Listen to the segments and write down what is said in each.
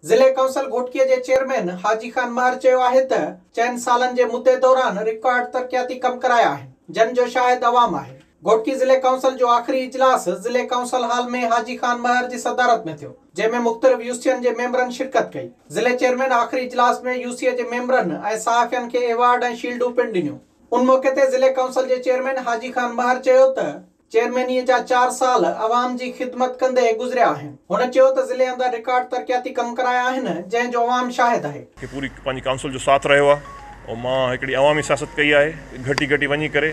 ضلعي ڪونسل گهوٽڪي جي چيئرمين حاجي خان مهر چيو آهي ته چئن سالن جي مدي دوران رڪارڊ ترقياتي ڪم ڪرايا آهن جن جو شاهد عوام آهي. گهوٽڪي ضلعي ڪونسل جو آخري اجلاس ضلعي ڪونسل هال ۾ حاجي خان مهر جي صدارت ۾ ٿيو جنهن ۾ مختلف يوسين جي ميمبرن شرڪت ڪئي. ضلعي چيئرمين آخري اجلاس ۾ يوسي جي ميمبرن ۽ صحافين کي ايوارڊ ۽ شيلڊون پڻ ڏنيون. ان موقعي تي ضلعي ڪونسل جي چيئرمين حاجي خان مهر چيو ته. چيئرمينيء جا چار سال عوام جي خدمت ڪندي گذريا آهن. هن چيو ته ضلعي اندر رڪارڊ ترقياتي ڪم ڪرايا آهن، جنهن جو عوام شاهد آهي. کي پوري پنهنجي ڪائونسل جو ساٿ رهيو آهي ۽ مان هڪڙي عوامي سياست ڪئي آهي گهٽي گهٽي وڃي ڪري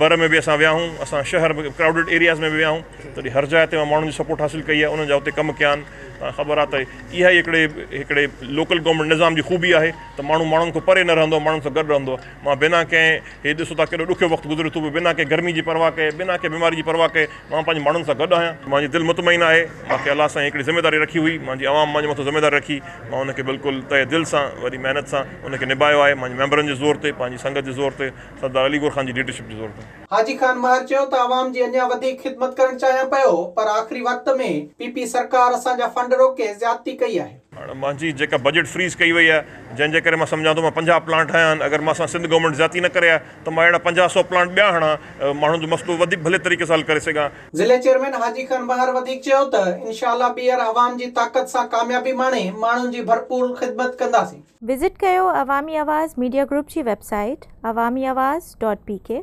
بر ۾ به اسان ويا آهيون اسان شهر ۾ ڪرائوڊڊ ايرياز ۾ به ويا آهيون تڏهن هر جاء تي مان ماڻهن جي سپورٽ حاصل ڪئي آهي انهن جا اتي ڪم ڪيا آهن توهان کي خبر آهي ته اها ئي هڪڙي هڪڙي لوڪل گورنمينٽ نظام جي خوبي آهي ته ماڻهو ماڻهن کان پري نه رهندو آهي ماڻهن سان گڏ رهندو آهي. مان بنا ڪنهن، هي ڏسو ته ڪيڏو ڏکيو وقت گذريو ٿو وڃي، بنا ڪنهن گرمي جي پرواهه ڪئي، بنا ڪنهن بيماري جي پرواهه ڪئي، مان پنهنجي ماڻهن سان گڏ آهيان. مانجي دل مطمئن آهي. مان کي الله سائين هڪڙي ذميواري رکي هئي، مانجي عوام مانجي مٿان ذميواري رکي، مان ان کي بلڪل تهه دل سان، وڏي محنت سان ان کي نباهيو آهي، مانجي ميمبرن جي زور تي، پنهنجي سنگت جي زور تي، سردار علي گور خان جي ليڊرشپ جي زور تي. حاجي خان مهر چيو ته عوام جي اڃا وڌيڪ خدمت ڪرڻ چاهيان پيو، پر آخري وقت ۾ پي پي سرڪار اسان جا فنڊ روڪي زيادتي ڪئي آهي. هاڻ مانجي جيڪا بجيٽ فريز ڪئي وئي آهي جنهن جي ڪري مان سمجهان ٿو مان پنجاهه پلانٽ هنيا آهن اگر مان سان سنڌ گورنمينٽ زيادتي نه ڪري آهي ته مان اهڙا پنجاهه سؤ پلانٽ ٻيا هڻان ماڻهن جو مسئلو وڌيڪ ڀلي طريقي سان حل ڪري سگهان. ضلعي چيئرمين حاجي خان بحر وڌيڪ چيو ته انشاء الله ٻيهر عوام جي طاقت سان ڪاميابي ماڻي ماڻهن جي ڀرپور خدمت ڪنداسين. وزٽ ڪيو عوامي آواز ميڊيا گروپ جي ويب سائيٽ عوامي آواز ڊاٽ پي ڪي.